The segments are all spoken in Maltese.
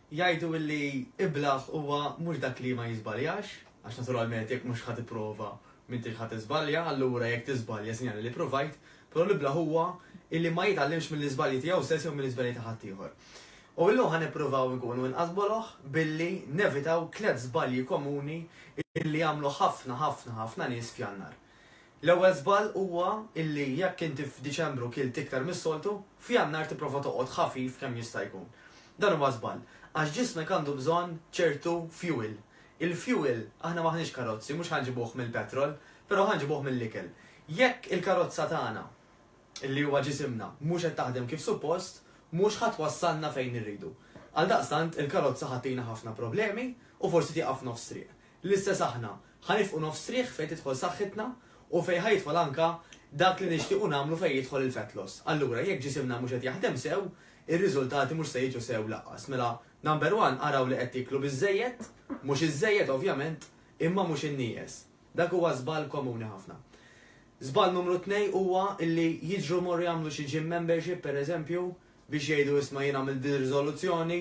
Jgħidu li iblah huwa mhux dak li ma jiżbaljax, għax naturalment jekk mhux ħadd ipprova m'intix ħadd tiżbalja, allura jekk tiżbalja sinjali li provajt, però l-iblah huwa illi ma jitgħallimx mill-iżbalji tiegħu stess jew mill-iżbalji ta' ħaddieħor. U illum ħa nippruvaw inkunu inqas boloh billi nevitaw tliet żbalji komuni illi jagħmlu ħafna ħafna ħafna nies f'Jannar. L-ewwel żball huwa illi jekk inti f'Diċembru kilt iktar mis-soltu, f'Jannar tipprova toqgħod ħafif kemm jista' jkun. Dan huwa żball, għax ġismek għandu bżonn ċertu fuel. Il-fuel, aħna m'aħniex karozzi, mhux ħa nġibuh mill-petrol, però ħa nġibuh mill-ikel. Jekk il-karozza tagħna, illi huwa ġisimna, mhux qed taħdem kif suppost, mhux ħa twassalna fejn irridu. Għaldaqstant, il-karozza ħa ttina ħafna problemi u forsi tieqaf f'nofs triq. L-istess aħna, Ħa nifqu nofs triħ fejn tidħol saħħitna u fejn ħa jidħol anke dak li nixtiequ nagħmlu fejn jidħol il-fat loss. Allura, jekk ġisimna mhux qed jaħdem sew, ir-riżultati mhux se jiġu sew lanqas. Mela, number one, araw li qed tieklu biżżejjed, mhux iżżejjed ovvjament, imma mhux innieqes. Dak huwa żball komuni ħafna. Żball numru tnej huwa li jiġru jmorru jagħmlu xi gym membership, pereżempju, biex jgħidu isma' jien għamilt din ir-riżoluzzjoni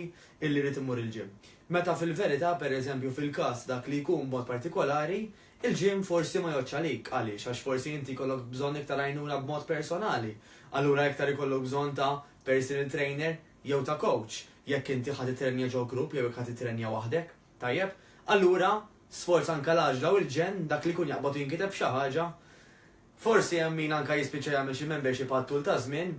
illi rrid immur il-gym. Meta fil-verità, per eżempju fil-każ dak li jkun b'mod partikolari, il-gym forsi ma jgħoddx għalik, għaliex għax forsi inti jkollok bżonn iktar għajnuna b'mod personali, allura iktar ikollok bżonn ta' personal trainer jew ta' coach, jekk inti ħa tittrenja ġo grupp jew jekk ħa tittrenja waħdek, tajjeb? Allura, sforz anke l-għaġla u l-ġenn, dak li jkun jaqbad u jinkiteb xi ħaġa, Forsi hemm min anke jispiċċa jagħmel xi membership għat-tul taż-żmien,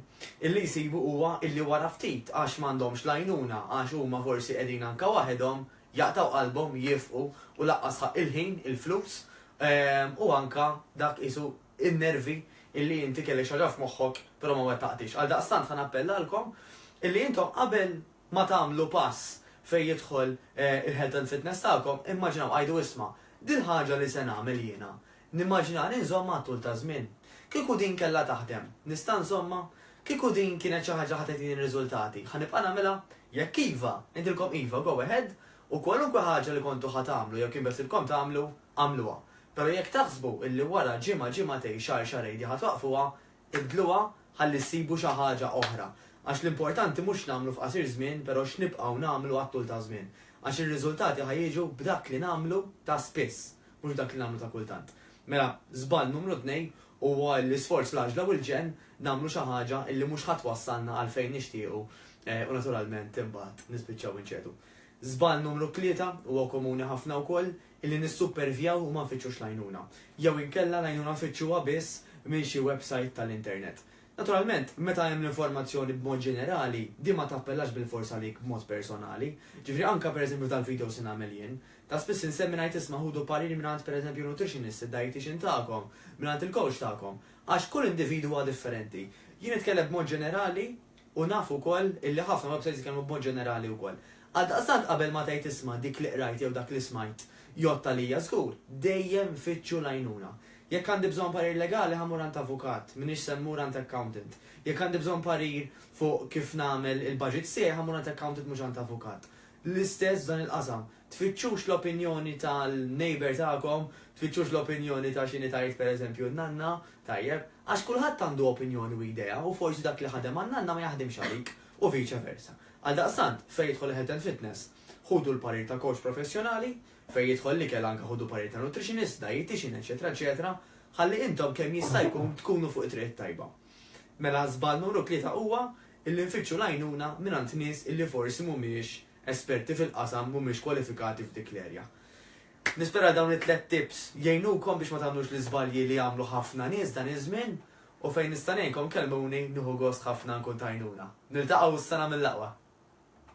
illi jsibu huwa illi wara ftit għax m'għandhomx l-għajnuna, għax huma forsi qegħdin anke waħedhom, jaqtgħu qalbhom, jifqu u laqqas ħa il-ħin, il-flus, u anke dak qisu n-nervi illi inti kellek xi ħaġa f'moħħok però ma wettaqtiex. Għaldaqstant ħa nappellalkom illi intom qabel ma tagħmlu pass fejn jidħol il-health and fitness tagħkom, immaġinaw, għidu isma', dil-ħaġa li se nagħmel jiena, Nimmaġina li nżommha għat-tul ta' żmien. Kieku din kellha taħdem, nista' nżommha? Kieku din kienet xi ħaġa ħa tagħtini riżultati, ħa nibqa' nagħmilha? Jekk iva, ngħidilkom iva, go ahead, u kwalunkwe ħaġa li kontu ħa tagħmlu jew kien beħsiebkom tagħmlu, agħmluha. Però jekk taħsbu illi wara ġimgħa, ġimgħatejn, xahar, xahrejn din ħa twaqqfuha, Ibdluha ħalli ssibu xi ħaġa oħra. Għax l-importanti mhux x'nagħmlu f'qasir żmien però x'nibqgħu nagħmlu għat-tul taż-żmien. Għax ir-riżultati ħa jiġu b'dak li nagħmlu ta' spiss, mhux b'dak li nagħmlu ta' kultant. Mela, żball numru tnejn huwa l-isforz fl-għaġla u l-ġenn nagħmlu xi ħaġa li mhux ħa twassalna għal fejn nixtiequ u naturalment imbagħad nispiċċaw inċedu. Żball numru tlieta huwa komuni ħafna wkoll, li nissupervjaw u ma nfittxux l-għajnuna, jew inkella l-għajnuna nfittxuha biss minn xi websajt tal-internet. Naturalment, meta hemm l-informazzjoni b'mod ġenerali, din ma tappellax bilfors għalik b'mod personali. Ġifieri anke pereżempju f'dal-videos li nagħmel jien, ta' spiss insemmi ngħid isma' ħudu parir mingħand pereżempju nutritionist, id-dietician tagħkom, mingħand il-coach tagħkom, għax kull individwu huwa differenti. Jien nitkellem b'mod ġenerali U naf ukoll illi ħafna websajts jitkellmu b'mod ġenerali wkoll. Għaldaqstant qabel ma tgħid isma' dik li qrajt jew dak li smajt jgħodd għalija żgur, dejjem fittxu l-għajnuna. Jekk għandi bżonn parir legali ħa mmur għand avukat, m'iniex se mmur għand accountant. Jekk għandi bżonn parir fuq kif nagħmel il-budget tiegħi ħa mmur għand accountant mhux għand avukat. L-istess f'dan il-qasam, Tfittxux l-opinjoni tal-neighbour tagħkom, tfittxux l-opinjoni ta' x'inhi tgħid pereżempju n-nanna, tajjeb, għax kulħadd għandu opinjoni u idea u forsi dak li ħadem għan-nanna ma jaħdimx għalik u vice versa. Għaldaqstant, fejn jidħol il-health and fitness, ħudu l-parir ta' coach professjonali, fejn jidħol l-ikel anke ħudu parir ta' nutritionist, dietician, eċċetera eċċetera, ħalli intom kemm jista' jkun tkunu fuq it-triq it-tajba. Mela żball numru tlieta huwa illi nfittxu l-għajnuna mingħand nies illi forsi mhumiex esperti fil-qasam mhumiex kwalifikati f'dik l-erja. Nispera dawn it-tliet tips jgħinukom biex ma tagħmlux l-iżbalji li għamlu ħafna nies dan iż-żmien u fejn nista' ngħinkom kellmuni nieħu gost ħafna nkun t'għajnuna. Niltaqgħu s-sena mill-aqwa!